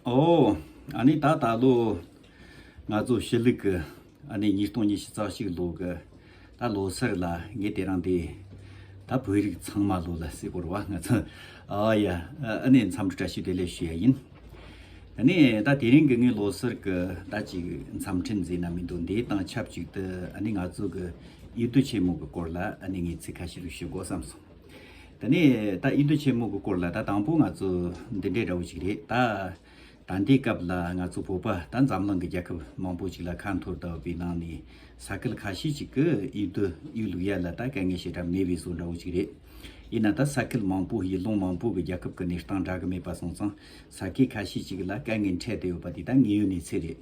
ཨོ། ཨ་ནི་ད་ད་ལོ། ང་ཚོ་ཕྱི་ལུགས་ཀྱི། ཨ་ནི་ཉིས་སྟོང་ཉི་ཤུ་རྩ་ཞིག་ལོ་གི། ད་ལོ་སར་ལ་ངས་དེ་རང་དེ། ད་བོད་རིགས་ཚང་མ་ལོ་ལ་སེ་གོར་བ་ང་ཚོ། ཨ་ཡ། ཨ་ནི་མཚམས་འདྲི་བཀྲ་ཤིས་བདེ་ལེགས་ཞུ་ཡ་ཡིན། ད་ནི་ད་དེ་རིང་གི་ངའི་ལོ་སར་གྱི་ད་ཅིག་མཚམས་འཕྲིན་མཛད་ན་མི་འདུག་འདི་དང་ཆབས་ཅིག་ཏུ་ཨ་ནི་ང་ཚོ་གི། ཡུལ་དུ་ཆེན་མོ་གི་སྐོར་ལ་ཨ་ནི་ངས་ཚིག་ཁ་ཤས་རེ་ཞུ་དགོས་བསམ་སོང། ད་ནས་ད་ཨི་འདོ་ཆེན་མོ་གི་སྐོར་ལ་ད་དང་པོ་ང་ཚོ་འདི་འདྲའི་འདྲ་བོ་ཞིག་རེད་ད། ད་འདི་སྐབས་ལ་ང་ཚོ་བོད་པ་ད་འཛམ་གླིང་གི་རྒྱལ་ཁབ་མང་པོ་ཞིག་ལ་ཁ་འཐོར་ལྟ་བུའི་ནང་ནས་ས་སྐལ་ཁ་ཤས་ཞིག་གི་ཨི་འདོ་ཨི་ལུག་ཡ་ལ་ད་དཀའ་ངལ་ཞེ་དྲག་མེད་པའི་སོ་འདྲ་བོ་ཞིག་རེད། ཡིན་ན་ད་ས་སྐལ་མང་པོ་ཡི་ལོང་མང་པོ་གི་རྒྱལ་ཁབ་གི་གནས་སྟངས་འདྲ་གི་མེད་པ་སོང་ཙང་ས་སྐལ་ཁ་ཤས་ཞིག་ལ་དཀའ་ངལ་འཕྲད་དེ་ཡོད་པ་དེ་ད་ངེས་ཡོད་གནས་ཚད་རེད།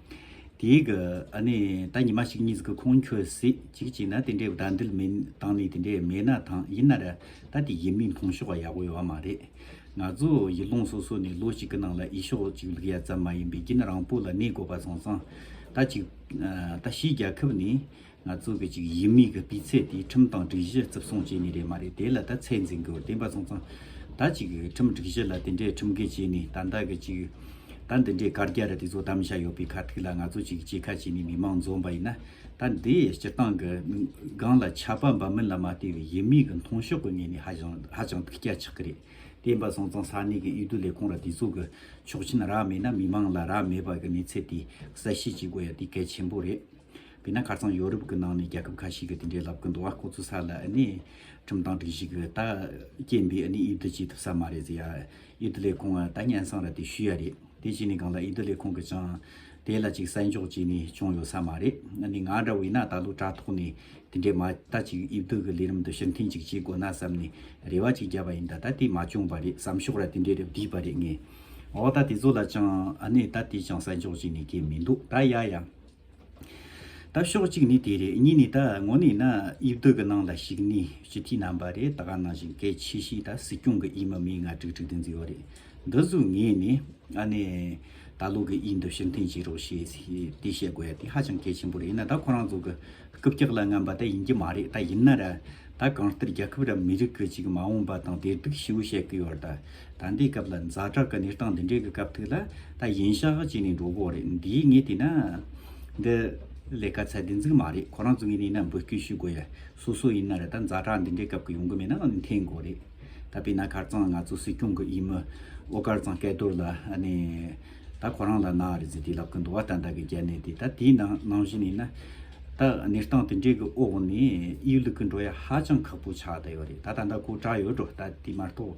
དེའི་གི་ཨ་ནི་ད་ཉི་མ་ཞིག་གཉིས་གི་ཁོང་ཁྱོད་སྲིད་ཅིག་བྱས་ན་དེ་འདྲའི་བདག་འདུལ་མིན་དང་ནི་དེ་འདྲའི་མེད་ན་ཐང་ཡིན་ན་ར་ད་དེ་ཡིན་མིན་མཐོང་ཤོག་ཡག་པོ་ཡོད་བ་མ་རེད། ང་ཚོ་ཡི་ལུང་སོ་སོ་ནས་ལོ་གཅིག་གི་ནང་ལ་ཡི་ཤོག་ཅིག་ལུག་ཡ་ཙམ་མ་ཡིན་པའི་རྒྱུན་རང་སྤོ་ལ་གནས་དགོས་པ་སོང་སང་ད་ཅིག་ད་གཞིས་རྒྱ་ཁབ་ནི། ང་ཚོ་གི་ཅིག་ཡིན་མིན་གི་སྤུས་ཚད་དེ་ཁྲིམས་དང་སྒྲིག་གཞི་རྩིབ་སྲུང་བྱས་ནི་རེད་མ་རེད་དེ་ལ་ད་ཚད་འཛིན་དགོས་བདེན་པ་གསུང་ཙང་ད་ཅིག་ཁྲིམས་སྒྲིག་གཞི་ལ་དེ་འདྲའི་ཁྲིམས་འགལ་བྱས་ནི་ད་ད་གི་ཅིག་ད་འདི་འདྲའི་བཀར་རྒྱ་རི་དེ་ཚོ་གཏམ་བཤད་ཡོད་པའི་ཁ་ཐིག་ལ་ང་ཚོ་ཅིག་ཅི་ཁ་བྱས་ནི་མི་མང་འཛོམས་པ་ཡིན་ན་ད་འདི་སྤྱི་བཏང་གི་སྒང་ལ་ཆ་པ་འབའ་མིན་ལ་མ་ལྟོས་བའི་ཡིན་མིན་གི་མཐོང་ཤོག་གི་ངེས་ནི་ཧ་ཅང་ཧ་ཅང་ཐུགས་སྐྱ་ཆག་གི་རེད་བདེན་པ་གསུང་ཙང་ས་གནས་གི་འོས་བསྡུ་ལས་ཁུངས་ལ་དེ་ཚོ་གི་ཆོག་མཆན་རག་མེད་ན་མི་མང་ལ་རག་མེད་པ་གི་གནས་ཚད་དེ་གསལ་བཤད་བྱེད་དགོས་ཡ་དེ་གལ་ཆེན་པོ་རེད། དེས་ན་ཁར་ཚང་ཡོ་རུབ་ཀྱི་ནང་ནས་རྒྱལ་ཁབ་ཁ་ཤས་ཀྱི་དེ་འདྲའི་ལབ་ཀྱི་འདུག་བ་ཁོ་ཚོ་ས་ལ་ནི་ཁྲིམས་དང་སྒྲིག་གཞི་གི་ད་རྐྱེན་པས་ནི་ཨི་དི་བྱེད་ཐུབ་ས་མ་རེད་ཟེར་ཡ་ཨི་དི་ལས་ཁོང་ད་སྙན་སང་ར་དེ་ཞུས་ཡ་རེད་དེ་བྱས་ནས་གང་ལ་ཨི་དི་ལས་ཁོང་གི་ཅང་དེ་ལ་ཅིག་བསད་འཇོག་བྱས་ནས་བྱུང་ཡོད་ས་མ་རེད་ནི་ང་འདྲ་བས་ན་ད་ལོ་དྲ་ཐོག་ནས་དེ་འདྲའི་མ་ད་ཅིག་ཨི་དི་གི་ལས་རིམ་དུ་ཕྱིར་འཐེན་ཅིག་བྱེད་དགོས་ན་བསམ་ནས་རེ་བ་ཅིག་བརྒྱབ་པ་ཡིན་ད་ད་དེ་མ་བྱུང་བ་རེད་བསམ་ཤོག་ར་དེ་འདྲའི་རེ་བསྡུས་པ་རེད་ངས་འོ་ད་དེ་ཚོ་ལ་ཅང་ནི་ད་དེ་ཅང་བསད་འཇོག་བྱས་ནས་སྐྱེ་མི་འདུག་ད་ཡ་ཡ། ད་ཤོག་གཅིག་ནི་དེ་རེད་གཉིས་ནི་ད་ངོ་ནས་ན་དབྱིབས་སྡུག་གི་ནང་ལ་ཞིག་ནི་སྤྱི་འཐུས་རྣམ་པ་རེད་ད་ག་ནང་བཞིན་གལ་ཆེ་ཤོས་ད་སྲིད་སྐྱོང་གི་དབྱིན་མི་མི་ང་དྲུག་དྲུག་དེ་འཛིན་ཡོད་རེད་འདི་གཟུགས་ངེས་ནས་ཨ་ནེ། ད་ལོ་གི་དབྱིན་དུ་ཕྱིར་འཐེན་བྱེད་རོགས་ཞེས་དེ་བཤད་དགོས་ཡ་དེ་ཧ་ཅང་གལ་ཆེན་པོ་རེད་ཡིན་ན་ད་ཁོ་རང་ཚོ་གི་རྐུབ་ཀྱག་ལ་རྔམ་པ་ད་ཡིན་གྱི་མ་རེད་ད་ཡིན་ན་ར་ད་གང་ལྟར་རྒྱལ་ཁབ་ར་མི་རིགས་གི་ཅིག་མ་འོངས་པ་དང་དེ་སྡུག་ཤིའུ་བཤད་གི་ཡོད་ར་ད་ད་འདི་སྐབས་ལ་མཛའ་གྲགས་ཀྱི་གནས་སྟངས་འདི་འདྲའི་གི་སྐབས་ཐིག་ལ་ད་གཞན་ཞག་ཧ་ཅིག་ནས་འགྲོ་དགོས་རེད་འདི་ངས་བལྟས་ན། འདི་ལས་ཀ་ཚད་བདེ་འཛིག་མ་རེད་ཁོ་རང་ཚོ་ངས་བལྟས་ན་འབོད་སྐུལ་ཞུ་དགོས་ཡ་སོ་སོ་ཡིན་ན་རེད་ད་མཛའ་གྲགས་འདི་འདྲའི་སྐབས་ཀྱི་ཡོང་གི་མེད་ན་འཐེན་དགོས་རེད་ད་དཔེ་ན་ཁར་ཙང་ང་ཚོ་སྲིད་སྐྱོང་གི་ཡིན་མི་ཨོ་དཀར་ཙང་སྐལ་རྡོར་ལ་ནས་ད་ཁོ་རང་ལ་ན་རེ་ཟི་དེ་ལབ་ཀྱི་འདུག་ཨ་ད་འདའ་གི་རྒྱལ་ནས་དེ་ད་དེའི་ནང་ནང་བཞིན་ཡིན་ན། ད་གནས་སྟངས་དེ་འདྲའི་གི་འོག་ནས་དབྱི་ལུག་གི་འགྲོ་ཡ་ཧ་ཅང་ཁག་པོ་ཆགས་ད་ཡོད་རེད་ད་ད་འདའ་ཁོ་གྲགས་ཡོད་འགྲོ་ད་དེ་མ་གཏོགས།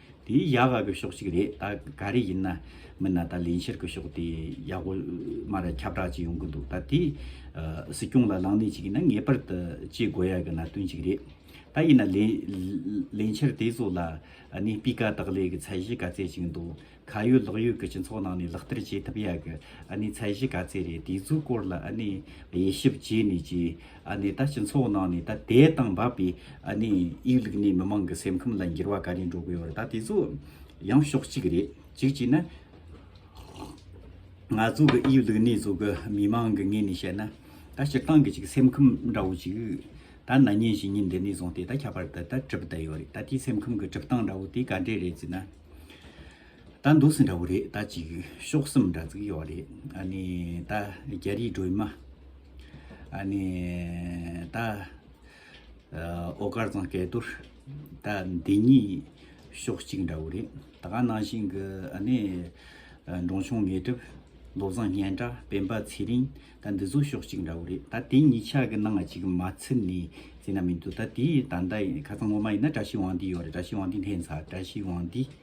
དེའི་ཡ་ག་གི་ཕྱོགས་གཅིག་རེད་ད་ག་རེ་ཡིན་ན་མིན་ན་ད་ལེན་ཤེར་གི་ཕྱོགས་དེ་ཡ་གོ་མ་ར་ཁྱབ་བསྒྲགས་ཅིག་ཡོང་གི་འདུག་ད་དེ་སྲིད་སྐྱོང་ལ་ལངས་གནས་ཅིག་ཡིན་ན་ངེས་པར་དུ་བྱེད་དགོས་ཡ་གི་ན་དོན་ཅིག་རེད་ད་ཡིན་ན་ལེན་ཤེར་དེ་ཚོ་ལ་ནས་སྤི་ག་དག་ལས་གི་ཚད་གཞི་ག་ཚད་ཅིག་འདུག་ཁ་ཡོད་ལག་ཡོད་གི་སྤྱི་ཚོགས་ནང་ནས་ལག་བསྟར་བྱེད་ཐུབ་ཡ་གི་ནས་ཚད་གཞི་ག་ཚད་རེད་དེ་ཚོའི་སྐོར་ལ་ནས་དབྱེ་ཞིབ་བྱས་ནས་ཀྱི། ནས་ད་སྤྱི་ཚོགས་ནང་ནས་ད་དད་དང་འབབ་པའི་དབྱིག་ལུགས་ནས་མི་མང་གི་སེམས་ཁམས་ལ་འགྱུར་བ་ག་རེ་འགྲོ་དགོས་པར་ད་དེ་ཚོ་ཡང་ཕྱོགས་གཅིག་རེད་གཅིག་བྱས་ན། ང་ཚོ་གི་དབྱིག་ལུགས་ནས་བཟོ་གི་མི་མང་གི་ངོས་ནས་བཤད་ན་ད་སྤྱིར་བཏང་གི་ཅིག་སེམས་ཁམས་འདྲ་བོ་ཅིག་ད་ན་ཉིན་བཞིན་ཉིན་འདི་ནས་བཟུང་སྟེ་ད་ཁྱད་པར་དུ་ད་གྲུབ་བསྡད་ཡོད་རེད་ད་དེའི་སེམས་ཁམས་གི་གྲུབ་སྟངས་འདྲ་བོ་དེ་ག་འདྲས་རེད་ཅེ་ན། ད་འདུག་སེ་འདྲ་བོ་རེད་ད་ཅིག་ཤོག་སེམས་འདྲ་ཙིག་ཡོག་རེད་ཨ་ནི་ད་རྒྱ་རིའི་སྒྲོལ་མ་ཨ་ནི་ད་ཨོ་དཀར་ཚང་སྐལ་རྡོར་ད་འདི་གཉིས་ཤོག་གཅིག་འདྲ་བོ་རེད་ད་ག་ནང་བཞིན་གི་ཨ་ནི་འབྲོང་ཆུང་ངེས་གྲུབ་བློ་བཟང་སྙན་གྲགས་སྤེན་པ་ཚེ་རིང་ད་འདི་ཚོ་ཤོག་གཅིག་འདྲ་བོ་རེད་ད་དེ་གཉིས་ཆ་གི་ནང་ང་ཅིག་མ་ཚིག་ནས་ཟེར་ན་མི་འདུག་ད་དེའི་ད་ད་ཁ་ཚང་ངོ་མ་ཡིན་ན་བཀྲ་ཤིས་དབང་འདུས་ཡོག་རེད་བཀྲ་ཤིས་དབང་འདུས་ལྷན་ཚགས་བཀྲ་ཤིས་དབང་འདུས།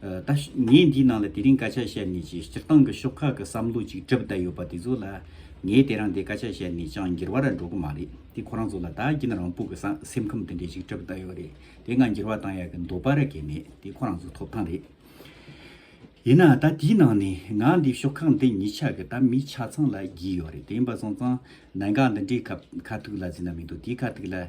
ད་ངས་འདིའི་ནང་ལ་དེ་རིང་སྐད་ཆ་བཤད་ནས་ཀྱི་སྤྱིར་བཏང་གི་ཤོག་ཁག་གི་བསམ་བློ་ཅིག་གྲིབ་བསྡད་ཡོད་པ་དེ་ཚོ་ལ། ངས་དེ་རང་དེ་སྐད་ཆ་བཤད་ནས་ཅང་འགྱུར་བ་ར་འགྲོ་གི་མ་རེད་དེ་ཁོ་རང་ཚོ་ལ་ད་གིན་རང་སྤུག་གི་སེམས་ཁམས་དེ་འདྲས་ཅིག་གྲིབ་བསྡད་ཡོད་རེད་དེ་ང་འགྱུར་བ་བཏང་ཡག་གི་འདུག་པ་ར་གས་མེད་དེ་ཁོ་རང་ཚོ་ཐོབ་ཐང་རེད། ཡིན་ནའང་ད་དེའི་ནང་ནས་ང་འདིའི་ཤོག་ཁག་འདི་ཉིད་ཆགས་གི་ད་མི་ཆ་ཚང་ལ་བགྱིས་ཡོད་རེད་དེ་ཡིན་པ་སོང་ཙང་གནད་འགག་འདི་འདྲའི་ཁ་ཐུག་ལ་ཟིན་ན་མི་འདུག་དེའི་ཁ་ཐུག་ལ།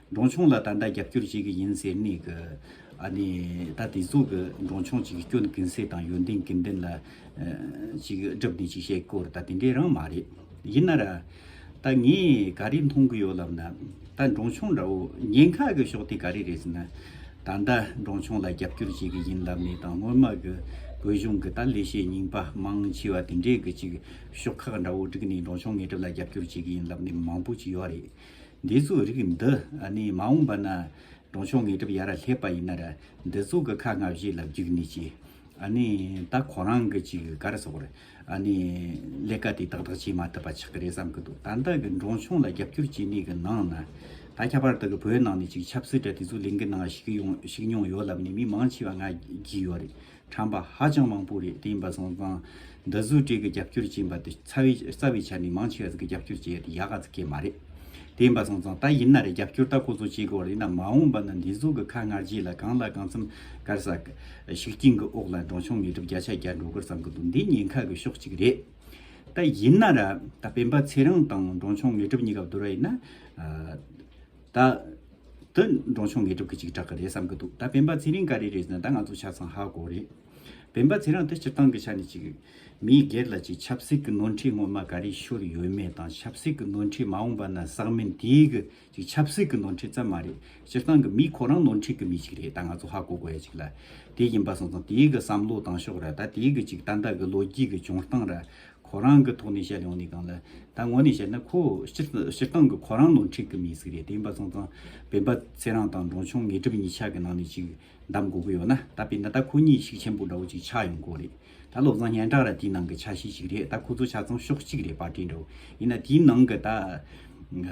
འབྲོང་ཆུང་ལ་ད་ལྟ་རྒྱབ་སྐྱོར་བྱེད་གི་ཡིན་ཟེར་ནས་གི། ཨ་ནི། ད་དེ་ཚོ་གི་འབྲོང་ཆུང་ཅིག་སྐྱོན་གིན་སེ་དང་ཡོན་ཏན་གིན་ཏན་ལ། ཅིག་སྒྲུབ་ནས་ཅིག་བཤད་སྐོར་ད་དེ་འདྲའི་རང་མ་རེད། ཡིན་ན་ར། ད་ངས་ག་རེ་མཐོང་གི་ཡོད་ལབ་ན། ད་འབྲོང་ཆུང་འདྲ་བོ་ཉེན་ཁ་གི་ཕྱོགས་དེ་ག་རེ་རེད་ཟེར་ན། ད་ད་འབྲོང་ཆུང་ལ་རྒྱབ་སྐྱོར་བྱེད་གི་ཡིན་ལབ་ནས་དང་སྔོན་མ་གི་བོད་གཞུང་གི་ད་ལས་བྱེད་རྙིང་པ་མང་ཆེ་བ་དེ་འདྲས་གི་ཅིག་ཤོག་ཁག་འདྲ་བོ་བསྒྲིག་ནས་འབྲོང་ཆུང་ངེས་སྒྲུབ་ལ་རྒྱབ་སྐྱོར་བྱེད་གི་ཡིན་ལབ་ནས་མང་པོ་ཅིག་ཡོད་རེད། འདི་ཚོའི་རིགས་འདི་ནི་མ་འོངས་པ་ན་གྲོང་ཆོག་ངེས་གྲབ་ཡར་སླེབས་པ་ཡིན་ནར་འདི་ཚོ་གི་ཁ་སྔ་བཞི་ལ་བརྒྱུགས་ནས་ཀྱི་ད་ཁོ་རང་གི་ཅིག་ག་རེ་སོགས་ལས་ཀ་དེ་ཏག་ཏག་བྱེད་མ་ཐུབ་པ་ཆགས་ཀྱི་རེད་བསམ་གྱི་འདུག་ད་ལྟ་གི་འབྲོང་ཆུང་ལ་རྒྱབ་སྐྱོར་བྱེད་མི་གི་ནང་ན་ད་ཁྱད་པར་དུ་གི་བོད་ནང་ནས་ཅིག་ཆབ་སྲིད་གྲ་དེ་ཚོ་ལིང་གི་ནང་ཞིག་ཡོང་ཞིག་མྱོང་ཡོད་ལབ་ནས་མི་མང་ཆེ་བ་ང་བགྱིས་ཡོད་རེད་དྲངས་པ་ཧ་ཅང་མང་པོ་རེད་དེ་ཡིན་པ་སོང་ཙང་འདི་བཟོ་གྲས་ཀྱི་རྒྱབ་སྐྱོར་བྱས་པ་དེ་རྩ་བའི་ཆ་ནས་མང་ཆེ་བ་ཟིག་གི་རྒྱབ་སྐྱོར་བྱས་ཡོད་ཡག་ག་ཟིག་གི་མ་རེད་དེ་ཡིན་པ་སོང་ཙང་ད་ཡིན་ན་རེད་རྒྱབ་སྐྱོར་ད་ཁོ་ཚོ་བྱེད་དགོས་རེད་ན་མ་འོངས་པ་ན་འདི་བཟོ་གི་ཁ་སྔར་རྗེས་ལ་གང་ལ་གང་འཚམ་དཀར་ས་ཤུགས་རྐྱེན་གི་འོག་ལ་འབྲོང་ཆུང་ངེས་གྲུབ་བརྒྱ་ཆ་བརྒྱ་འགྲོ་དགོས་བསམ་གི་འདུག་འདི་ཉེན་ཁ་གི་ཕྱོགས་གཅིག་རེད་ད་ཡིན་ན་ར་ད་སྤེན་པ་ཚེ་རིང་དང་འབྲོང་ཆུང་ངེས་གྲུབ་གཉིས་ཀ་བསྡུར་བ་ཡིན་ན། ད་དུ་འབྲོང་ཆུང་ངེས་གྲུབ་ཀྱི་ཅིག་གྲག་གི་རེད་བསམ་གི་འདུག་ད་བན་པ་ཚེ་རིང་ག་རེ་རེད་ཟེར་ན་ད་ང་ཚོ་ཆ་ཚང་ཧ་གོ་རེད། བན་པ་ཚེ་རང་དེ་སྤྱིར་བཏང་གི་ཆ་ནས་ཅིག་མིའི་སྒེར་ལ་ཅིག་ཆབ་སྲིད་ཀྱི་ནོར་འཁྲིད་ངོ་མ་ག་རེ་ཤོར་ཡོད་མེད་དང་ཆབ་སྲིད་ཀྱི་ནོར་འཁྲིད་མ་འོངས་པ་ན་བསགས་མིན་དེ་གི་ཅིག་ཆབ་སྲིད་ཀྱི་ནོར་འཁྲིད་ཙམ་མ་རེད་སྤྱིར་བཏང་གི་མི་ཁོ་རང་ནོར་འཁྲིད་ཀྱི་མི་ཅིག་རེད་ད་ང་ཚོ་ཧ་གོ་དགོས་ཡ་ཅིག་ལ་དེ་ཡིན་པ་སོང་ཙང་དེ་གི་བསམ་བློ་དང་ཕྱོགས་ར་ད་དེ་གི་ཅིག་ཏན་ཏན་གི་ལོ་རྒྱུས་ཀྱི་བྱུང་སྟངས་ར་ཁོ་རང་གི་ཐོག་ནས་བཤད་ཡོང་ནས་གང་ལ། ད་ངོ་ནས་བཤད་ན་ཁོ་སྤྱིར་བཏང་གི་ཁོ་རང་ནོར་འཁྲིད་གི་མི་ཟིག་རེད་དེ་འབའ་ཚང་ཚང་བན་པ་ཚེ་རང་དང་འབྲོང་ཆུང་ངེས་གྲུབ་གཉིས་ཆ་གི་ནང་ནས་ཅིག་གདམ་དགོས་གི་ཡོད་ན་ད་བན་ན་ད་ཁོ་གཉིས་ཤིག་ཆེན་པོ་འདྲ་བོ་ཅིག་ཆགས་ཡོང་གོ་རེད་ད་བློ་བཟང་སྙན་གྲགས་ར་དེའི་ནང་གི་ཆ་ཤས་ཤིག་རེད་ད་ཁོ་ཚོ་ཆ་ཚང་ཕྱོགས་གཅིག་རེད་པ་དྲན་འགྲོ་ཡིན་ན་དེའི་ནང་གི་ད།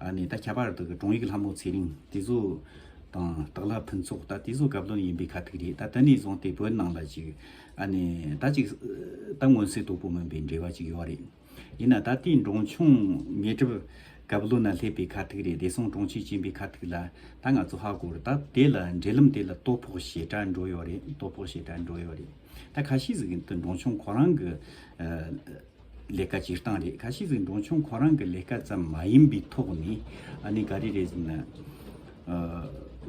ནས་ད་ཁྱད་པར་དུ་དྲུང་ཡིག་ལྷ་མོ་ཚེ་རིང་དེ་ཚོ་དང་དག་ལྷ་ཕུན་ཚོགས་ད་དེ་ཚོ་དགའ་བློན་ཡིན་པའི་ཁ་ཐུག་རེད་ད་དེ་ནས་བཟུང་སྟེ་བོད་ནང་ལ་ཅིག་ཨ་ནས་ད་ཅིག་ད་མངོན་གསལ་དོད་པོ་མིན་པའི་འབྲེལ་བ་ཅིག་ཡོད་རེད་ཡིན་ན་ད་དེའི་འབྲོང་ཆུང་ཉེ་གྲུབ་དགའ་བློན་ན་སླེབས་པའི་ཁ་ཐུག་རེད་བདེ་སྲུང་དྲུང་ཆེ་བྱིན་པའི་ཁ་ཐུག་ལ་ད་ང་ཚོ་ཧ་གོ་རེད་ད་དེ་ལ་འབྲེལ་ལམ་དེ་ལ་སྟོད་ཕོགས་ཞེ་དྲག་འགྲོ་ཡོད་རེད་སྟོད་ཕོགས་ཞེ་དྲག་འགྲོ་ཡོད་རེད་ད་ཁ་ཤས་ཟིག་གི་འབྲོང་ཆུང་ཁོ་རང་གི་ལས་ཀ་སྤྱིར་བཏང་རེད་ག་ཤེད་ཟིག་འབྲོང་ཆུང་ཁོ་རང་གི་ལས་ཀ་ཙམ་མ་ཡིན་པའི་ཐོག་ནས་ཨ་ནི་ག་རེ་རེད་ཟེར་ན།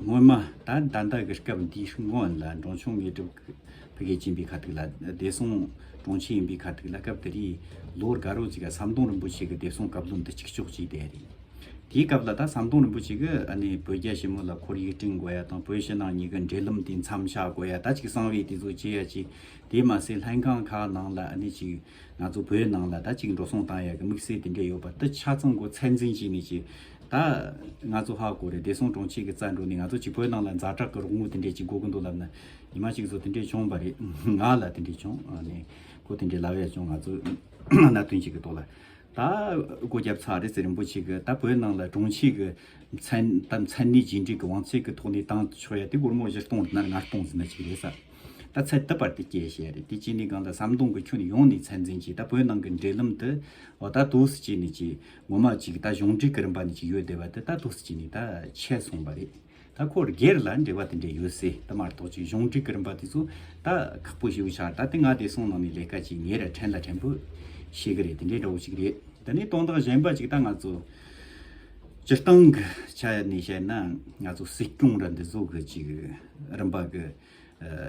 སྔོན་མ་ད་ཟླ་འདི་གི་སྐབས་འདིའི་སྔོན་ལ་འབྲོང་ཆུང་ངེད་སྒྲུབ་ཕི་གས་ཅིན་པའི་ཁ་ཐུག་ལ་བདེ་སྲུང་དྲུང་ཆེ་ཡིན་པའི་ཁ་ཐུག་ལ་སྐབས་དེ་རིང་ལོ་རྒ་རོ་ཅིག་ག་ཟམ་གདོང་རིན་པོ་ཆེ་གི་བདེ་སྲུང་བཀའ་བློན་དུ་གཅིག་ལྕོགས་བྱས་བསྡད་རེད། དེའི་སྐབས་ལ་ད་ཟམ་གདོང་རིན་པོ་ཆེ་གི་ཨ་ནི་བོད་རྒྱ་ཞི་མོ་ལ་ཁོར་ཡུག་བསྐྲུན་དགོས་ཡ་དང་བོད་ཕྱི་ནང་གཉིས་ཀའི་འབྲེལ་ལམ་དེ་མཚམས་བཞག་དགོས་ཡ་ད་ཅིག་གསང་བའི་དེ་ཚོ་བྱས་ཡ་ཅིག་དེས་མ་ཟད་ལྷན་ཁང་ཁག་ནང་ལ་ནས་ཅིག་ང་ཚོ་བོད་ནང་ལ་ད་ཅིག་འགྲོ་སོང་བཏང་ཡག་གི་དམིགས་བསལ་དེ་འདྲས་ཡོད་པ་ཏི་ཆ་ཚང་གོ་ཚད་འཛིན་བྱས་ནས་ཅིག་ད་ང་ཚོ་ཧ་གོ་རེད་བདེ་སྲུང་དྲུང་ཆེ་གི་རྩ་འགྲོ་ནས་ང་ཚོ་ཅིག་བོད་ནང་ལ་འཛའ་དྲག་གི་རོགས་དངུལ་དེ་འདྲས་ཅིག་དགོ་གི་འདུག་ལབ་ན་ཉི་མ་ཅིག་ཚོ་དེ་འདྲས་བྱུང་བ་རེད་ང་ལ་དེ་འདྲས་བྱུང་ནས་གོ་དེ་འདྲས་ལབ་ཡག་བྱུང་ང་ཚོ་ན་དོན་ཅིག་གི་ཐོག་ལ་ད་གོ་རྒྱབ་ཚར་རེད་ཟེར་རིན་པོ་ཆེ་གི་ད་བོད་ནང་ལ་དྲུང་ཆེ་གི་མཚན་མཚན་གནས་ཇི་འདྲས་གི་དབང་ཚད་གི་ཐོག་ནས་བཏང་ཆོག་ཡག་དེ་སྒོར་མོ་བཞི་སྟོང་དེ་ནར་ལྔ་སྟོང་ཟིན་ན་ཅིག་རེད་ས། ད་ཚེ་ལྟ་བར་དེ་སྐྱེས་ཞེས་རེད་དེ་གཅིག་ནི་གང་ལྟར་ཟམ་གདོང་གི་ཁྱོན་ནས་ཡོང་ནས་ཚད་འཛིན་གྱིས་ད་བོད་ནང་གི་འབྲེལ་ལམ་དུ་འོ་ད་དུག་སུ་གཅིག་ནས་གཅིག་ངོ་མ་གཅིག་ད་གཞུང་འབྲེལ་གི་རིམ་པ་ནས་གཅིག་ཡོད་བསྡད་པ་དེ་ད་དུག་སུ་གཅིག་ནས་ད་ཆད་སོང་བ་རེད་ད་ཁོར་སྒེར་ལ་འབྲེལ་བ་དེ་འདྲས་ཡོད་སའི་དུ་མར་དོགས་ཅིག་གཞུང་འབྲེལ་གི་རིམ་པ་དེ་ཚོ་ད་ཁག་པོ་ཞིག་ཆགས་ད་དེ་ང་བདེ་སྲུང་ནང་ནས་ལས་ཀ་གཅིག་ངེད་ར་ཕྲན་ལ་ཕྲན་བུ་ཤེས་གི་རེད་དེ་འདྲས་འདྲ་བོ་ཞིག་རེད་ད་ནི་དོན་དག་གཞན་པ་གཅིག་ད་ང་ཚོ་སྤྱིར་བཏང་གི་ཆ་ནས་བཤད་ན་ང་ཚོ་སྲིད་སྐྱོང་ར་འདི་བཟོ་གི་གཅིག་རིམ་པ་གི་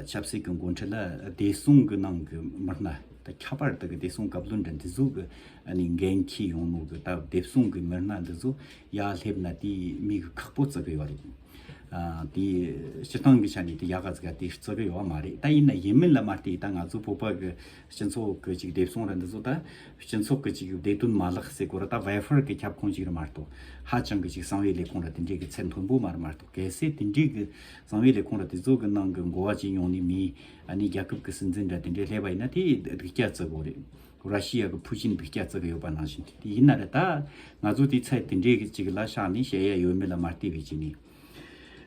ཆབ་སྲིད་ཀྱི་འགོ་འཁྲིད་ལ་བདེ་སྲུང་གི་ནང་གི་མི་སྣ་དང་ཁྱད་པར་དུ་བདེ་སྲུང་བཀའ་བློན་དང་འདི་ཟུག་གི་འགན་འཁྱི་ཡོང་ནོ་གི་སྟབས་བདེ་སྲུང་གི་མི་སྣ་འདི་ཟུག་ཡ་སླེབ་ན་དེ་མི་གི་ཁག་པོ་བརྩི་གི་ཡོད་རེད། དེ་སྤྱི་སྟངས་གི་ཆ་ནས་དེ་ཡ་ག་ཟིག་ཡ་དེ་བརྩི་གི་ཡོད་མ་རེད་ད་ཡིན་ན་ཡིན་མིན་ལ་མ་ལྟོས་ད་ང་ཚོ་བོད་པ་གི་སྤྱི་ཚོགས་གི་ཅིག་བདེ་སྲུང་ར་འདི་ཟུག་ད་སྤྱི་ཚོགས་གི་ཅིག་བདེ་དོན་མ་ལག་སེ་གོ་ར་ད་ཝེ་ཧྥེར་གི་ཁྱབ་ཁོངས་ཅིག་ར་མ་ལྟོས་ཧ་ཅང་གི་ཅིག་གསང་བའི་ལས་ཁུངས་ར་དེ་འདྲའི་གི་ཚད་མཐོན་པོ་མ་ར་མ་ལྟོས། གལ་སྲིད་དེ་འགྲིག་གི་གསང་བའི་ལས་ཁུངས་ལ་དེ་ཚོ་གི་ནང་གི་འགོ་བ་བྱེད་མྱོང་ནི་མིན། ཨ་ནི་རྒྱ་ཁབ་གི་སྲིད་འཛིན་འདྲ་དེ་འདྲས་སླེབས་པ་ཡིན་ན་དེ་སྡིག་སྐྱག་བརྩི་གོ་རེད། ར་ཤི་ཡ་གི་ཕུ་ཆིན་སྡིག་སྐྱག་བརྩི་གི་ཡོད་པ་ནང་བཞིན་དེ་དེ་ཡིན་ན་རེད་ད། ང་ཚོ་དེའི་ཚད་དེ་འདྲས་ཅིག་ལ་བཞག་ནས་བཤད་ཡ་ཡོད་མེད་ལ་མ་ལྟས་པའི་ཆེད་ནས།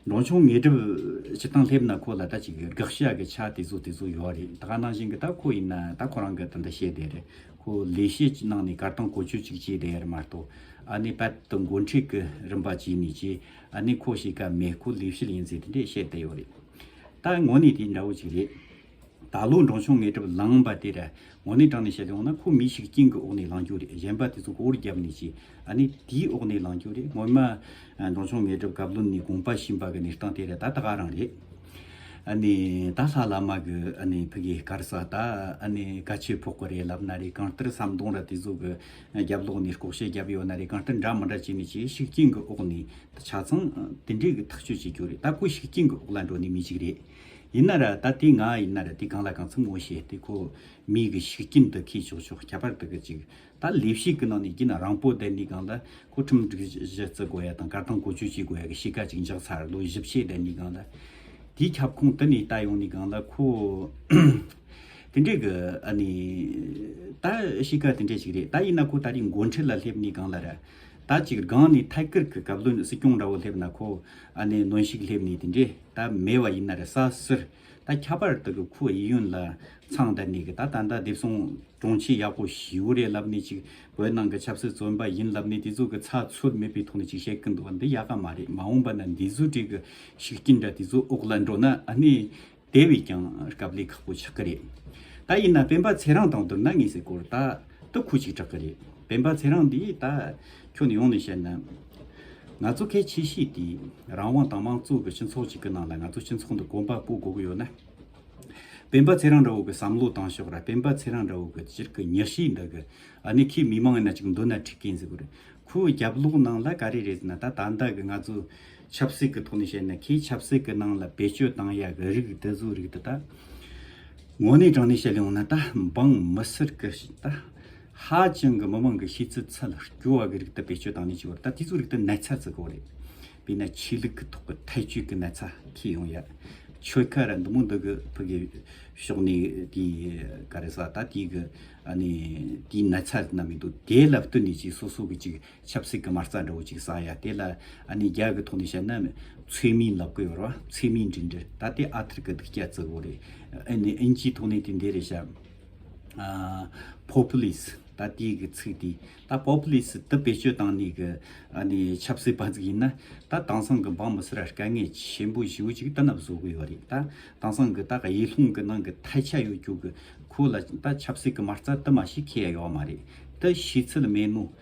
འབྲོང་ཆུང་ངེས་སྒྲིབ་བྱེད་སྟངས་སླེབས་ན་ཁོ་ལ་ད་ཅིག་དགག་བྱ་གི་ཆ་དེ་ཚོ་དེ་ཚོ་ཡོད་རེད་ད་ག་ནང་བཞིན་གི་ད་ཁོ་ཡིན་ན་ད་ཁོ་རང་གི་ད་འདི་བཤད་བསྡད་རེད་ཁོ་ལས་བྱེད་ཅིག་གནང་ནས་གར་སྟངས་གོ་ཆོད་ཅིག་བྱས་བསྡད་ཡ་རེད་མ་གཏོགས་ཨ་ནི་པད་དུ་མགོ་འཁྲིད་གི་རིམ་པ་བྱས་ནས་ཅེས་ཨ་ནི་ཁོ་ཞིག་ག་མེ་ཁུ་ལིའུ་ཤི་ལིན་ཟེར་དེ་འདྲས་བཤད་བསྡད་ཡོད་རེད། ད་ངོ་ནི་དེ་འདྲ་བོ་ཞིག་རེད། ད་ལོ་འབྲོང་ཆུང་ངེད་གྲབ་ལངས་པ་དེ་ར་ངོ་ནི་དྲངས་ནས་བཤད་དེ་འོང་ན་ཁོ་མི་ཞིག་སྐྱིན་གི་འོག་ནས་ལངས་རྒྱུ་རེད་གཞན་པ་དེ་ཚོ་མགོ་བོར་རྒྱབ་ནས་ཅི་ཨ་ནི་དེའི་འོག་ནས་ལངས་རྒྱུ་རེད་ངོ་མ། འབྲོང་ཆུང་ངེད་གྲབ་གབ་ལོ་ནི་དགོངས་པ་ཞིམ་པ་གི་ནི་སྟངས་དེ་ར་ད་ད་ག་རང་རེད། ཨ་ནི་ད་ལྷ་བླ་མ་གི་ཨ་ནི་ཕི་གི་དཀར་ས་ད་ཨ་ནི་ག་ཆོས་ཕོག་གི་རེད་ལབ་ན་རེད་གང་ལྟར་ཟམ་གདོང་ར་དེ་ཚོ་གི་རྒྱབ་ལོགས་ནས་ལྐོག་བཤད་བརྒྱབ་ཡོད་ན་རེ་གང་ལྟར་འདྲ་མི་འདྲ་བྱས་ནས་ཆེས་ཤུགས་རྐྱེན་གྱི་འོག་ནས་ད་ཆ་ཚང་དེ་འདྲས་ཀྱི་ཐག་གཅོད་བྱེད་རྒྱུ་རེད་ད་ཁོ་ཤུགས་རྐྱེན་གྱི་འོག་ལ་འགྲོ་ནི་མི་ཞིག་རེད། ཡིན་ན་ར་ད་དེ་ང་ཡིན་ན་ར་དེ་གང་ལ་གང་འཚམ་ངོ་ཤེས་ཏེ་ཁོ་མིའི་གྱི་ཤུགས་རྐྱེན་དུ་ཁས་ཆོག་ཆོག་ཁྱད་པར་དུ་གི་ཅིག་ད་ལས་བྱེད་ཀྱི་ནང་ནས་ཀྱི་ན་རང་པོ་དེ་ནི་གང་ལ་ཁོ་ཁྲིམས་སྒྲིག་གཞི་བརྩི་དགོས་ཡ་དང་གར་སྟངས་གོ་ཆོད་བྱེད་དགོས་ཡ་གི་བྱེད་ཀ་ཅིག་འཇགས་ཚར་ལོ་བཞི་བྱས་དེ་ནི་གང་ལ་དེའི་ཁྱབ་ཁོངས་དེ་ནས་ད་ཡོང་ནི་གང་ལ་ཁོ། དེ་འདྲས་གི་ཨ་ནི། ད་ཤི་ཁ་དེ་འདྲས་ཞིག་རེད་ད་ཡིན་ན་ཁོ་ད་རིང་མགོ་འཁྲིད་ལ་སླེབས་ནི་གང་ལ་ར། ད་ཅིག་སྒང་ནི་ཐའི་ཀིར་གི་གབ་ལོན་སྲིད་སྐྱོང་འདྲ་བོ་སླེབས་ན་ཁོ་ཨ་ནི་གནོན་ཤིག་སླེབས་ནི་དེ་འདྲས་ད་མེད་བ་ཡིན་ན་ར་ས་སིར། ད་ཁྱ་པར་དག་གི་ཁོ་ཡི་ཡོན་ལ་མཚང་བརྡ་ནི་གི་ད་ད་ད་དེབ་སོང་གྲོང་ཁྱེར་ཡག་པོ་ཞིའུ་རེད་ལབ་ནི་ཅིག་བོད་ནང་གི་ཆབ་སྲིད་བཙོན་པ་ཡིན་ལབ་ནི་དེ་ཚོ་གི་ཚ་ཚོད་མེད་པའི་ཐོག་ནི་ཅིག་བཤད་གི་འདུག་བ་འདི་ཡག་ག་མ་རེད་མ་འོངས་པ་ན་འདི་ཚོ་དྲིས་གི་ཤིག་ཅི་འདྲ་དེ་ཚོ་འོག་ལ་འགྲོ་ན་ཨ་ནི། དེ་བས་ཀྱང་སྐབས་ལས་ཁག་པོ་ཆགས་ཀྱི་རེད། ད་ཡིན་ན་སྤེན་པ་ཚེ་རང་དང་བསྡུར་ན་ངེས་སེ་སྐོར་དག་ཏུ་ཁུག་ཅིག་གྲག་གི་རེད། སྤེན་པ་ཚེ་རང་འདིས་ད་ཁྱོད་ནས་ཡོང་ནས་བཤད་ན། ང་ཚོ་གལ་ཆེ་ཤོས་དེ་རང་དབང་དང་མང་གཙོ་གི་སྤྱི་ཚོགས་ཅིག་གི་ནང་ལ་ང་ཚོ་སྤྱི་ཚོགས་འདི་གོམ་པ་སྤོ་དགོས་ཀྱི་ཡོད་ན། སྤེན་པ་ཚེ་རང་འདྲ་བོ་གི་བསམ་བློ་བཏང་ཤོག་ར་སྤེན་པ་ཚེ་རང་འདྲ་བོ་གི་སྤྱིར་གི་མྱི་ཤེས་འདི་གི་ཨ་ནི་ཁོས་མི་མང་ཡིན་ན་ཅིག་འདོད་ན་ཁྲིག་གིན་ཟེ་གོ་རེད། ཁོའི་རྒྱབ་ལོག་ནང་ལ་ག་རེ་རེད་ཟེ་ན་ད་ད་ལྟ་གི་ང་ཚོ། ཆབ་སྲིད་ཀྱི་ཐོག་ནས་བཤད་ན་ཁོས་ཆབ་སྲིད་ཀྱི་ནང་ལ་བེད་སྤྱོད་བཏང་ཡ་གི་རིགས་དེ་ཚོའི་རིགས་དེ་དག་ངོ་ནས་དྲང་ནས་བཤད་ཡོང་ན་ད་འབངས་མི་སེར་གྱི་ད་ཧ་ཅང་གི་མི་མང་གི་ཤེས་ཚད་ཚད་ལ་སྐྱོ་བ་གི་རིགས་དེ་བེད་སྤྱོད་བཏང་ནས་བྱས་བ་རེད་ད་དེ་ཚོའི་རིགས་དེ་ནད་ཚ་བཙིར་གོ་རེད། དཔེར་ན་ཆོས་ལུགས་ཀྱི་ཐོག་གི་ཐལ་སྤྱོད་ཀྱི་ནད་ཚ་ཁྱེར་ཡོང་ཡ་ཆོལ་ཁ་ར་འདི་མོ་འདི་གི་ཕུ་གི་ཕྱོགས་ནས་དེ་ག་རེ་ཟ་ད་དེ་གི་ཨ་ནི་དེའི་ནད་ཚ་རྣམས་མི་འདུག་དེ་ལ་བསྟུན་ནས་ཅིག་སོ་སོ་གི་ཅིག་ཆབ་སྲིད་ཀྱི་མ་རྩ་འདྲ་བོ་གཅིག་བསགས་ཡ་དེ་ལ་ཨ་ནེ་རྒྱ་གི་ཐོག་ནས་བཤད་ན་ཚུལ་མིན་ལབ་གི་ཡོད་ར་ཚུལ་མིན་འགྲིག་འགྲིག་ད་དེ་ཨ་ཐར་གྱི་སྡིག་སྐྱ་གཙོ་བོ་རེད་ཨེ་ནི་ཨིན་ཇིའི་ཐོག་ནས་དེ་འདི་རེད་བཤད་ཨ Populist ད་དེའི་གི་ཚིག་དེ་ད Populist དེ་བེད་སྤྱོད་བཏང་ནས་གི་ཨ་ནེ་ཆབ་སྲིད་པ་ཚིག་ཡིན་ན་ད་དེང་སང་གི་འབངས་མི་སེར་ར་དཀའ་ངལ་ཆེན་པོ་བཞི་བོ་གཅིག་ད་ན་བཟོ་གི་ཡོད་རེད་ད་དེང་སང་གི་ད་ག་ཡེ་ལྷུང་གི་ནང་གི་ཐལ་ཆ་ཡོད་རྒྱུ་གི་ཁོ་ལ་ད་ཆབ་སྲིད་ཀྱི་མ་རྩ་དེ་མ་ཞིག་ཁེ་ཡ་ཡོད་མ་རེད་དེ་ཤི་ཚུལ་མེད་ནོ།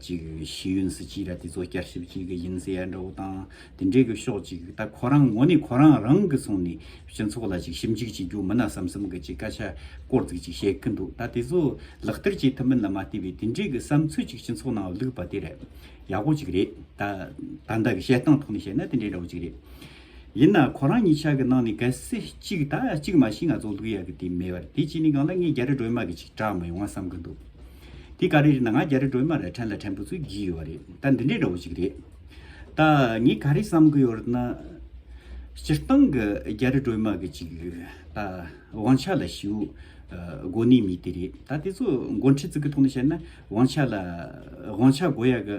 ཅིག་ཤེས་ཡོན་སྲིད་སྤྱི་ལ་དེ་ཚོ་བསྐྱར་ཞིབ་ཅིག་ཡིན་ཟེར་ཡ་འདྲ་བོ་དང་དེ་འདྲའི་གི་ཤོག་ཅིག་ད་ཁོ་རང་ངོ་ནས་ཁོ་རང་རང་གི་སོང་ནས་སྤྱི་ཚོགས་ལ་ཅིག་ཞིབ་འཇུག་བྱེད་རྒྱུ་མིན་ན་བསམ་བསམ་གི་ཅིག་སྐད་ཆ་སྐོར་ཙིག་ཅིག་བཤད་གི་འདུག་ད་དེ་ཚོ་ལག་བསྟར་བྱེད་ཐུབ་མིན་ལ་མ་བལྟས་པའི་དེ་འདྲའི་གི་བསམ་ཚུལ་ཅིག་སྤྱི་ཚོགས་ནང་ལུག་པ་དེ་རེད་ཡག་པོ་ཅིག་རེད་ད་ད་ལྟ་གི་བཤད་སྟངས་ཐོག་ནས་བཤད་ན་དེ་འདྲའི་འདྲ་བོ་ཅིག་རེད། ཡིན་ན་ཁོ་རང་གཉིས་ཆག་གི་གནང་ནི་ག་སེ་གཅིག་ད་གཅིག་མ་ཤི་ང་ཚོ་འདུག་ཡག་གི་དེ་མེད་པར་དེ་གཅིག་ནི་གང་ལ་ངས་རྒྱ་རི་སྒྲོལ་མ་གི་ཅིག་གྲག་མ་ཡོང་ང་བསམ་གི་འདུག་དེ་ག་རེ་རེད་ན་ང་རྒྱ་རི་སྒྲོལ་མ་ལ་ཕྲན་ལ་ཕྲན་བུ་ཚོད་བགྱིས་ཡོད་རེད་ད་འདི་འདྲའི་འདྲ་བོ་ཅིག་རེད་ད་ངས་ག་རེ་བསམ་གི་ཡོད་རེད་ན། སྤྱིར་བཏང་གི་རྒྱ་རི་སྒྲོལ་མ་གི་ཅིག་ད་དབང་ཆ་ལ་ཞུ་དགོ་ནི་མི་དེ་རེད་ད་དེ་ཚོ་མགོ་འཁྲིད་ཚིག་གི་ཐོག་ནས་བཤད་ན་དབང་ཆ་ལ་དབང་ཆ་དགོ་ཡག་གི།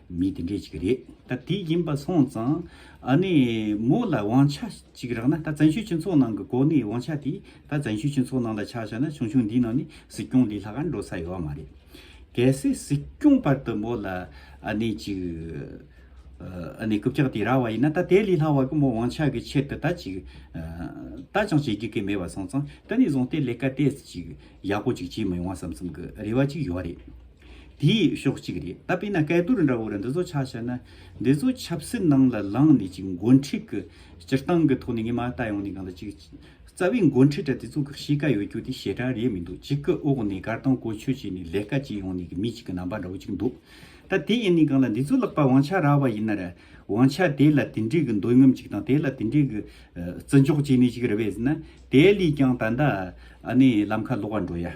མི་དེ་འདྲས་ཅིག་རེད། ད་དེ་ཡིན་པ་སོང་ཙང། ཨ་ནེ། མོ་ལ་དབང་ཆ་ཅིག་རག་ན་ད་བཙན་བྱོལ་སྤྱི་ཚོགས་ནང་གི་གོ་གནས་དབང་ཆ་དེ་ད་བཙན་བྱོལ་སྤྱི་ཚོགས་ནང་ལ་ཆགས་ཤག་ན་ཆུང་ཆུང་འདི་ནང་ནས་གཟིགས་སྐྱོང་ལས་ལྷག་འགྲོ་ས་ཡོད་མ་རེད། གལ་སྲིད་གཟིགས་སྐྱོང་བར་དུ་མོ་ལ་ཨ་ནེ་ཅིག། ཨ་ནེ་རྐུབ་ཀྱག་དེ་རག་བ་ཡིན་ན་ད་དེ་ལས་ལྷག་བར་གི་མོ་དབང་ཆ་གི་ཆེད་དུ་ད་ཅིག། ད་ཅང་བྱེད་དགོས་གི་མེད་པ་སོང་ཙང་ད་ནས་བཟུང་སྟེ་ལས་ཀ་དེ་ཅིག་ཡག་པོ་ཅིག་བྱེད་མི་ཡོང་བ་བསམ་བསམ་གི་རེ་བ་ཅིག་ཡོད་རེད། དེ་ཡི་ཕྱོགས་གཅིག་རེད་ད་པེ་ན་སྐལ་རྡོར་འདྲ་བོ་ལ་འདི་ཚོ་ཆ་བཤད་ན། འདི་ཚོ་ཆབ་སྲིད་ནང་ལ་ལངས་ནས་ཅིག་མགོ་འཁྲིད་ཀྱི་སྤྱིར་བཏང་གི་ཐོག་ནས་ངས་མ་བལྟ་ཡོང་ནས་གང་ལ་ཅིག། རྩ་བའི་མགོ་འཁྲིད་འདྲ་དེ་ཚོ་གི་གཤིས་ཀ་ཡོད་རྒྱུ་དེ་ཞེ་དྲག་རེད་མི་འདུག་གཅིག་གི་འོག་ནས་གར་དང་གོ་ཆོད་བྱས་ནས་ལས་ཀ་བྱས་ཡོང་ནས་ཀྱི་མི་གཅིག་གི་རྣམ་པ་འདྲ་བོ་ཅིག་འདུག་ད་དེ་ཡིན་ནས་གང་ལ་འདི་ཚོ་ལག་པ་ཝང་ཆ་རག་བ་ཡིན་ན་ར། ཝང་ཆ་དེ་ལ་དེ་འདྲའི་གི་འདོད་རྔམ་ཅིག་དང་དེ་ལ་དེ་འདྲའི་གི། བརྩི་འཇོག་བྱས་ནས་ཅིག་རེ་བས་ཟིན་ན་དེ་ལས་ཀྱང་ད་ནི་ལམ་ཁ་ལོག་བར་འགྲོ་ཡ།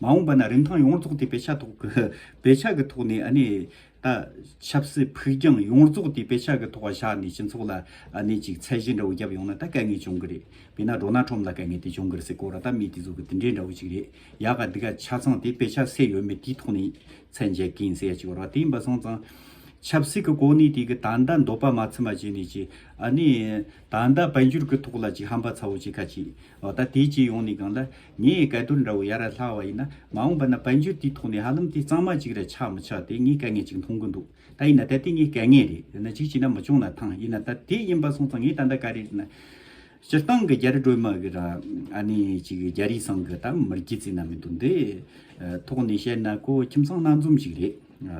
མ་འོངས་པ་ན་རིན་ཐང་ཡོངས་རྫོགས་དེ་བེད་ཆགས་ཐོག་གི་བེད་ཆགས་ཀྱི་ཐོག་ནས་ནས་ད། ཆབ་སྲིད་ཕུགས་རྒྱང་ཡོངས་རྫོགས་དེ་བེད་ཆགས་ཀྱི་ཐོག་བཞག་ནས་སྤྱི་ཚོགས་ལ་ནས་ཅིག་ཚད་གཞི་འདྲ་བོ་བརྒྱབ་ཡོང་ན་ད་དཀའ་ངལ་བྱུང་གི་རེད། བས་ན་འགྲོ་ན་ཁྲོམ་ལ་དཀའ་ངལ་དེ་བྱུང་གི་རེད་སེ་གོ་ར་ད་མི་དེ་ཚོ་གི་དེ་འདྲའི་འདྲ་བོ་ཅིག་རེད་ཡག་ག་འདི་ག་ཆ་ཚང་དེ་བེད་ཆགས་སེ་ཡོད་མེད་དེའི་ཐོག་ནས་ཚད་འཇལ་གིན་སེ་ཡ་ཅིག་རོ་དེ་ཡིན་པ་སོང་ཙང། ཆབ་སྲིད་ཀྱི་གོ་གནས་དེ་གི་ད་ལྟ་འདོད་པ་མ་ཚིམ་པ་བྱས་ནས་ཀྱི་ཨ་ནས། ད་ལྟ་དཔལ་འབྱོར་གྱི་ཐོག་ལ་ཅིག་ཧམ་པ་ཚ་བོ་ཅིག་ཁ་ཅིག་ཨོ་ད་དེ་ཅི་ཡོང་ནས་སྒང་ལ་ངའི་སྐལ་དོར་འདྲ་བོ་ཡར་ར་ལྷག་བ་ཡིན་ན་མ་འོངས་པ་ན་དཔལ་འབྱོར་དེའི་ཐོག་ནས་ཧ་ལམ་དེ་གཙང་མ་ཅིག་ར་ཆག་མི་ཆག་དེ་ངའི་དཀའ་ངལ་ཅིག་མཐོང་གི་འདུག་ད་ཡིན་ན་ད་དེ་ངའི་དཀའ་ངལ་རེད་དེ་ན་ཅིག་བྱས་ན་མི་ཆོག་ན་ཐང་ཡིན་ན་ད་དེ་ཡིན་པ་སོང་ཙང་ངས་ད་ལྟ་ག་རེ་རེད་ན་སྤྱིར་བཏང་གི་རྒྱ་རི་སྒྲོལ་མ་གི་ར་ཨ་ནི་ཅིག་རྒྱ་རིའི་སང་གི་ད་མིར་རྒྱུས་ཙིག་ན་མི་འདུག་འདི་ཐོག་ནས་བཤད་ན་ཁོ་ཁྱིམ་ཚང་སྣ་འཛོམས་ཞིག་རེད་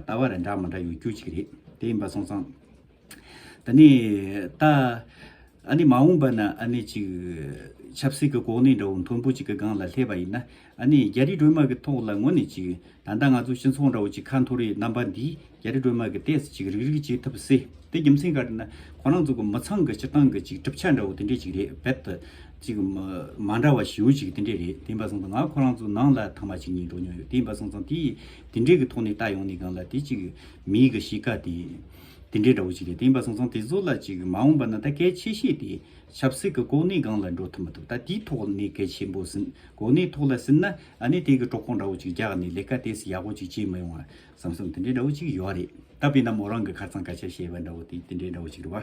ད་བར་ར་འདྲ་མི་འདྲ་ཡོད་རྒྱུ་ཅིག་རེད་དེ་ཡིན་པ་སོང་ཙང། ད་ནི་ད། ཨ་ནི་མ་འོངས་པ་ན་ཨ་ནི་ཅིག། ཆབ་སྲིད་ཀྱི་གོ་གནས་འདྲ་བོ་མཐོན་པོ་ཅིག་གི་སྒང་ལ་སླེབས་པ་ཡིན་ན། ཨ་ནི་རྒྱ་རིགས་སྒྲོལ་མ་གི་ཐོག་ལ་ངོ་ནས་ཅིག། ད་ལྟ་ང་ཚོ་སྤྱི་ཚོགས་འདྲ་བོ་ཅིག་ཁ་འཐོར་བའི་རྣམ་པ་འདིས་རྒྱ་རིགས་སྒྲོལ་མ་གི་ལྟས་སུ་ཅིག་རིག་རིག་བྱེད་ཐུབ་སྲིད་དེ་རྒྱུ་མཚན་ག་རེ་ན། ཁོ་རང་ཚོ་གི་མི་ཚང་གི་སྤྱིར་བཏང་གི་ཅིག་གྲུབ་ཆ་འདྲ་བོ་དེ་འདྲས་ཅིག་རེད་བེད་དུ། ཅིག། མ་འདྲ་བ་ཞེའུ་ཅིག་དེ་འདྲས་རེད་དེ་འབའ་སང་ཙང་ང་ཁོ་རང་ཚོ་ནང་ལ་ཐང་མ་ཅིག་གཉིས་འགྲོ་མྱོང་ཡོད་དེ་འབའ་སང་ཙང་དེ། དེ་འདྲས་གི་ཐོག་ནས་ལྟ་ཡོང་ནས་སྒང་ལ་དེ་ཅིག། མིའི་གི་གཤིས་ཀ་དེ། དེ་འདྲའི་དགྲ་བོ་ཅི་ལས་དེ་ཡིན་པ་སོང་སོང་དེ་ཚོ་ལ་ཅིག་མ་འོངས་པ་ན་ད་གལ་ཆེ་ཤེས་དེ་ཆབ་སྲིད་ཀྱི་གོ་གནས་སྒང་ལ་འགྲོ་ཐུབ་མི་ཐུབ་ད་དེའི་ཐོག་ནས་གལ་ཆེན་པོ་ཟིན་གོ་གནས་ཐོག་ལ་ཟིན་ན་ཨ་ནི་དེ་གི་གྲོགས་པོ་འདྲ་བོ་ཅིག་རྒྱག་ནས་ལས་ཀ་དེས་ཡག་པོ་ཅིག་བྱེད་མི་ཡོང་བ་བསམ་བསམ་དེ་འདྲའི་འདྲ་བོ་ཅིག་ཡོད་རེད་ད་བས་ན་མོ་རང་གི་ཁ་ཚང་སྐ་ཆ་བཤད་པ་འདྲ་བོ་དེ་དེ་འདྲའི་འདྲ་བོ་ཅིག་རེད་བ།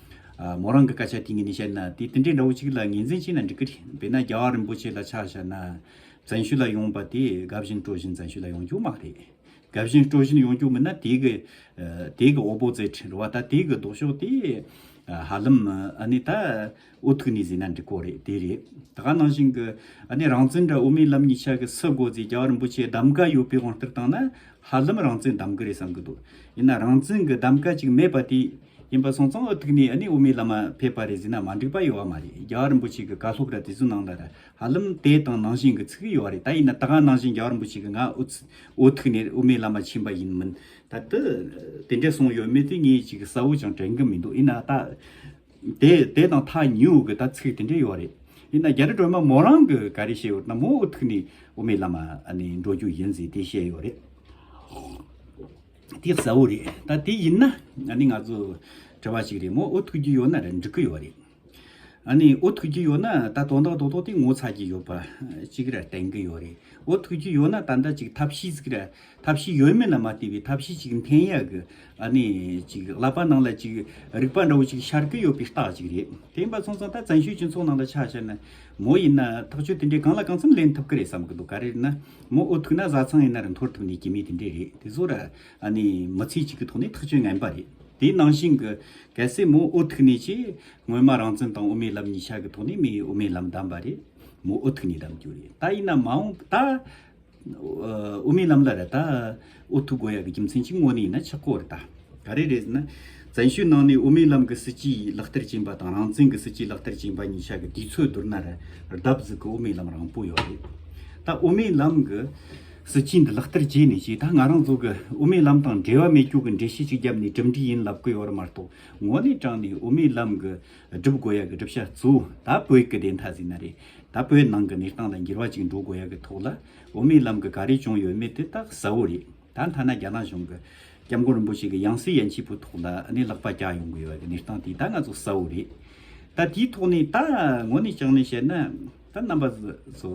མོ་རང་གི་སྐད་ཆ་དེ་ངས་ནི་བཤད་ན་དེ་དེ་འདྲའི་འདྲ་བོ་ཅིག་ལ་ངེས་འཛིན་བྱས་ན་འགྲིག་གི་རེད་དཔེར་ན་རྒྱ་གར་རིན་པོ་ཆེ་ལ་ཆ་བཞག་ན། བཙན་ཤོས་ལ་ཡོང་པ་དེ་དགའ་བཞིན་སྤྲོ་བཞིན་བཙན་ཤོས་ལ་ཡོང་རྒྱུ་མ་རེད། དགའ་བཞིན་སྤྲོ་བཞིན་ཡོང་རྒྱུ་མིན་ན་དེ་གི་དེ་གི་ཨོ་བོ་ཙེ་ཁྲིན་རུ་བ་ད་དེ་གི་ལྡོག་ཕྱོགས་དེ་ཧ་ལམ་ཨ་ནི་ད་ཨུ་ཐུག་ནས་བཟོས་ན་འགྲིག་གོ་རེད་དེ་རེད། ད་ག་ནང་བཞིན་གི་ཨ་ནི་རང་བཙན་འདྲ་དབུ་མའི་ལམ་གཉིས་ཆ་གི་སུ་དགོ་ཙེ་རྒྱ་གར་རིན་པོ་ཆེ་གདམ་ག་ཡོད་པའི་དབང་ལྟར་བཏང་ན་ཧ་ལམ་རང་བཙན་གདམ་གི་རེད་བསམ་གི་འདུག་ཡིན་ན་རང་བཙན་གི་གདམ་ག་ཅིག་མེད་པ་དེ། ཡིན་པ་སོང་ཙང་ཨོ་ཐུག་ནས་ཨ་ནི་དབུ་མའི་བླ་མ་ཕེབས་པ་རེད་ཟེར་ན་མ་འགྲིག་པ་ཡོད་བ་མ་རེད་རྒྱ་གར་རིན་པོ་ཆེ་གི་བཀའ་སློབ་ར་དེ་ཚོའི་ནང་ལ་ར་ཧ་ལམ་དེ་དང་ནང་བཞིན་གི་ཚིག་གི་ཡོད་བ་རེད་ད་ཡིན་ན་ད་ག་ནང་བཞིན་རྒྱ་གར་རིན་པོ་ཆེ་གི་ང་ཨོ་ཐུག་ནས་དབུ་མའི་བླ་མ་ཕྱིན་པ་ཡིན་མིན་ད་དེ་དེ་འདྲས་སོང་ཡོད་མེད་དེ་ངས་ཅིག་གསལ་བོ་ཅང་དྲན་གི་མི་འདུག་ཡིན་ན་ད་དེ་དེ་དང་ཐག་ཉེ་འུ་གི་ད་ཚིག་དེ་འདྲས་ཡོད་བ་རེད་ཡིན་ན་རྒྱ་རི་སྒྲོལ་མ་མོ་རང་གི་ག་རེ་བཤད་ཡོད་ན་མོ་ཨོ་ཐུག་ནས་དབུ་མའི་བླ་མ་ཨ་ནི་འགྲོ་རྒྱུ་ཡིན་ཟེར་དེ་བཤད་ཡོད་བ་རེད། དེ་གསལ་བོ་རེད་ད་དེ་ཡིན་ན་ནི་ང་ཚོ་བྲེལ་བ་ཞིག་རེད་མོ་ཨོ་ཐུག་གི་ཡོད་ན་རེད་འགྲིག་གི་ཡོད་རེད་ཨ་ནི་ཨོ་ཐུག་གི་ཡོད་ན་ད་དོན་དག་དོ་དོ་དེ་ངོ་ཚ་གི་ཡོད་པ་ཅིག་རེད་དྲན་གི་ཡོད་རེད་ཨོ་ཐུག་གི་ཡོད་ན་ད་འདྲ་ཅིག་ཐབས་ཤེས་ཟིག་རེད་ཐབས་ཤེས་ཡོད་མེད་ལ་མ་ལྟོས་པའི་ཐབས་ཤེས་ཅིག་འཐེན་ཡག་གི་ཨ་ནི་ཅིག་ལག་པ་ནང་ལ་ཅིག་རིག་པ་འདྲ་བོ་ཅིག་ཤར་གི་ཡོད་པའི་རྟགས་ཅིག་རེད་དེ་ཡིན་པ་སོང་ཙང་ད་བཙན་བྱོལ་སྤྱི་ཚོགས་ནང་ལ་ཆ་བཞག་ན་མོ་ཡིན་ན་ཐག་གཅོད་དེ་འདྲའི་གང་ལ་གང་འཚམ་ལེན་ཐུབ་གི་རེད་བསམ་གི་འདུག་ག་རེ་ཡིན་ན་མོ་འུ་ཐུག་ན་བཟའ་ཚང་ཡིན་ན་རུ་འཐོར་ཐུབ་ནས་ཀྱི་མི་དེ་འདྲས་རེད་དེ་ཚོར་མི་ཚེ་གཅིག་གི་ཐོག་ནས་ཐག་གཅོད་ངན་པ་རེད་དེའི་ནང་བཞིན་གི་གལ་སྲིད་མོ་འུ་ཐུག་ནས་ཀྱི་སྔོན་མ་རང་བཙན་དང་དབུ་མའི་ལམ་གཉིས་ཆ་གི་ཐོག་ནས་མི་དབུ་མའི་ལམ་བདམས་པ་རེད་མོ་འུ་ཐུག་ནས་བདམས་རྒྱུ་རེད་ད་ཡིན་ན་མ་འོངས་ད་དབུ་མའི་ལམ་ལ་རེད་ད། ཨུ་ཐུག་དགོས་ཡག་གི་རྒྱུ་མཚན་གཅིག་དངོས་ནས་ཡིན་ན་ཆག་གོ་རེ་ད། ག་རེ་རེད་ཟེར་ན། བཙན་ཤོད་ནང་ནས་དབུ་མའི་ལམ་གི་སྲིད་སྤྱི་ཡིས་ལག་བསྟར་བྱིན་པ་དང་རང་བཙན་གི་སྲིད་སྤྱིས་ལག་བསྟར་བྱིན་པ་གཉིས་ཆ་གི་དུས་ཚོད་བསྡུར་ན་ར་ལྡབ་གཟིགས་གི་དབུ་མའི་ལམ་རང་པོ་ཡོད་རེད། ད་དབུ་མའི་ལམ་གི་སྲིད་སྤྱི་འདི་ལག་བསྟར་བྱས་ནས་ཀྱི་ད་ང་རང་ཚོ་གི་དབུ་མའི་ལམ་དང་འབྲེལ་བ་མེད་སྐྱུག་གི་འགྲེལ་བཤད་ཅིག་རྒྱབ་ནས་གྲུབ་འབྲས་ཡིན་ལབ་གི་ཡོད་རེད་མ་གཏོགས་དངོས་གནས་དྲང་ནས་དབུ་མའི་ལམ་གི་བསྒྲུབ་དགོས་ཡག་གི་བསྒྲུབ་བྱ་གཙོ་བོ་ད་བོད་ཀི་བདེན་མཐའ་གཟིགས་ན་རེད་ད་བོད་ནང་གི་གནས་སྟངས་ལ་འགྱུར་བ་ཅིག་འགྲོ་དགོས་ཡག་གི་ཐོག་ལ། འོ་མའི་ལམ་གྱི་ག་རེ་བྱུང་ཡོད་མེད་དེ་རྟགས་གསལ་བོ་རེད། ད་མཐའ་ན་རྒྱ་ནག་གཞུང་གི ྋསྐྱབས་མགོན་རིན་པོ་ཆེ་གི་ཡང་སྲིད་ཡན་ཆད་པོའི་ཐོག་ལ་ནས་ལག་པ་བཀྱག་ཡོང་གི་ཡོད་པ་གྱི་གནས་སྟངས་དེ་ད་ང་ཚོ་གསལ་བོ་རེད། ད་དེའི་ཐོག་ནས་ད་ངོ་ནས་བྱང་ནས་བཤད་ན་ད་རྣམ་པ་ཚོ་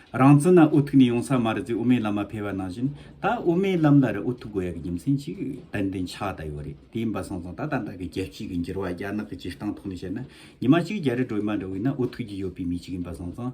རང་བཙན་ལ་འུ་ཐུག་ནས་ཡོང་ས་མ་རེད་ཚེ་འོ་མའི་ལམ་མ་འཕེལ་བ་ནང་བཞིན་ད་འོ་མའི་ལམ་ལ་རེ་འུ་ཐུག་དགོས་ཡ་གི་རྒྱུ་མཚན་གཅིག་ཏན་ཏན་ཆགས་ད་ཡོད་རེད་དེ་ཡིན་པ་སོང་སོང་ད་ད་ལྟ་གི་རྒྱལ་སྤྱི་གི་འགྱུར་བ་རྒྱ་ནག་གི་སྤྱིར་སྟངས་ཐོག་ནས་བཤད་ན་ཉི་མ་གཅིག་རྒྱ་རི་སྒྲོལ་མ་འདྲ་བོ་ཡིན་ན་འུ་ཐུག་གྱི་ཡོད་པའི་མི་གཅིག་ཡིན་པ་སོང་སོང།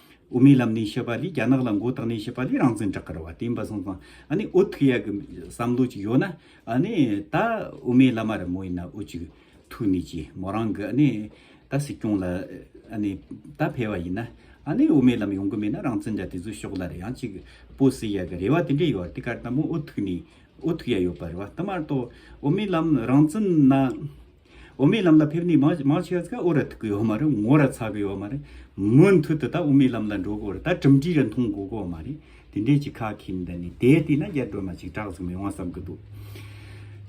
དབུ་མའི་ལམ་ནས་བཤད་པ་ལས་རྒྱ་ནག་ལ་མགོ་བཏགས་ནས་བཤད་པ་ལས་རང་བཙན་བསྒྲགས་གི་རེད་བ་བསྟན་པ་སོང་ཙང་ཨ་ནི་ཨོ་ཐུག་ཡག་གི་བསམ་བློ་ཅིག་ཡོད་ན་ཨ་ནི་ད་དབུ་མའི་བླ་མ་རེད་མོ་ཡིན་ན་ཨོ་ཅིག་ཐུག་ནས་ཀྱི་མོ་རང་གི་ཨ་ནི་ད་སྲིད་སྐྱོང་ལ་ཨ་ནི་ད་ཕེ་བ་ཡིན་ན་ཨ་ནི་དབུ་མའི་ལམ་ཡོང་གི་མེད་ན་རང་བཙན་འདྲ་དེ་ཚོ་ཤོག་ལ་རེད་ཡང་ཅིག་པོ་སྲིད་ཡག་གི་རེད་བ་དེ་འདྲ་ཡོད་དེ་གར་ད་མོ་ཨོ་ཐུག་ནས་ཨོ་ཐུག་ཡག་ཡོད་པ་རེད་བ་ད་མར་ཏོ་དབུ་མའི་ལམ་རང་བཙན་ན་དབུ་མའི་ལམ་ལ་ཕེབས་ནས་མཱ་མཱ་ཤཱ་ཀ་ཨོ་ར་ཐུག་གི་ཡོད་མ་རེད་ངོ་ར་ཚ་གི་ཡོད་མ་རེད། མུ་མཐུད་དུ་ད་དབུ་མའི་ལམ་ལ་འགྲོ་དགོས་རེད་ད་གྲུབ་འབྲི་རེ་མཐོང་དགོས་དགོས་མ་རེད། དེ་འདྲའི་གཅིག་ཁག་ཁེངས་འདི་ནས་དེ་ལྟས་ན་རྒྱ་སྒྲོལ་མ་ཅིག་གྲགས་ཟིག་མི་དབང་བསམ་གི་འདུག།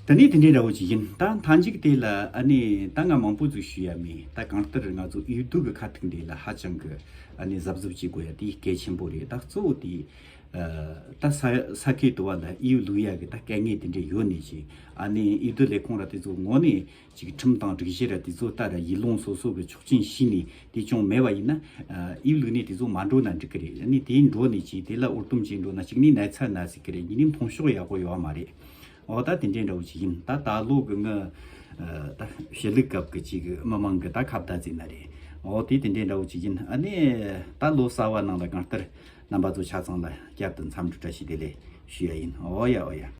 ད་ནི་དེ་འདྲའི་འདྲ་བོ་ཅིག་ཡིན་ད་མཐའ་མཇུག་དེ་ལ་ཨ་ནི་ད་ང་མང་པོ་ཟུག་ཞུ་ཡ་མེད་ད་གང་ལྟར་ང་ཚོ་ཨུའི་དུག་གི་ཁ་ཐུག་འདི་ལ་ཧ་ཅང་གི་ཨ་ནི་གཟབ་གཟབ་བྱེད་དགོས་ཡ་དེ་གལ་ཆེན་པོ་རེད་ད་གཙོ་བོ་དེ་ད་ས་ཁའི་དུ་བ་ལ་ཨིའུ་ལུའུ་ཡ་གི་ད་སྐད་ངན་དེ་འདྲས་ཡོད་ནི་ཞིག་ཨ་ནི་ཨིའུ་དི་ལས་ཁོང་ར་དེ་ཚོ་ངོ་ནི་ཅིག་ཁྲིམས་དང་སྒྲིག་གཞི་ར་དེ་ཚོ་ད་ར་ཡིད་ལོང་སོ་སོ་གི་ཆོག་ཆིན་ཤིས་ནི་དེ་ཅུང་མེད་བ་ཡིན་ན་ཨིའུ་ལུའུ་ནི་དེ་ཚོ་མ་འགྲོ་ན་འགྲིག་གི་རེད་ཨ་ནི་དེ་འགྲོ་ནི་ཅིག་དེ་ལ་ཨུར་ཏུམ་བྱས་འགྲོ་ན་ཅིག་ནི་ནད་ཚ་ན་སྲིད་གི་རེད་ཉིན་ནི་མཐོང་ཤོག་ཡག་པོ་ཡོད་མ་རེད་འོ་ད་དེ་འདྲས་འདྲ་བོ་ཅིག་ཡིན་ད་ད་ལོ་གི་ངའི་ད་ཞི་ལུག་སྐབས་གི་ཅིག་མི་མང་གི་ད་ཁ་བརྡ་རྩེ་ན་རེད་འོ་དེ་དེ་འདྲས་འདྲ་བོ་ཅིག་ཡིན་ཨ་ནི་ད་ལོ་ས་བ་ནང་ལ་གང་ལྟར་རྣམ་པ་ཚོ་ཆ་ཚང་ལ་བསྐྱར་དུ་འཚམས་འདྲི་བཀྲ་ཤིས་བདེ་ལེགས་ཞུ་ཡ་ཡིན་ཨོ་ཡ་ཨོ་ཡ།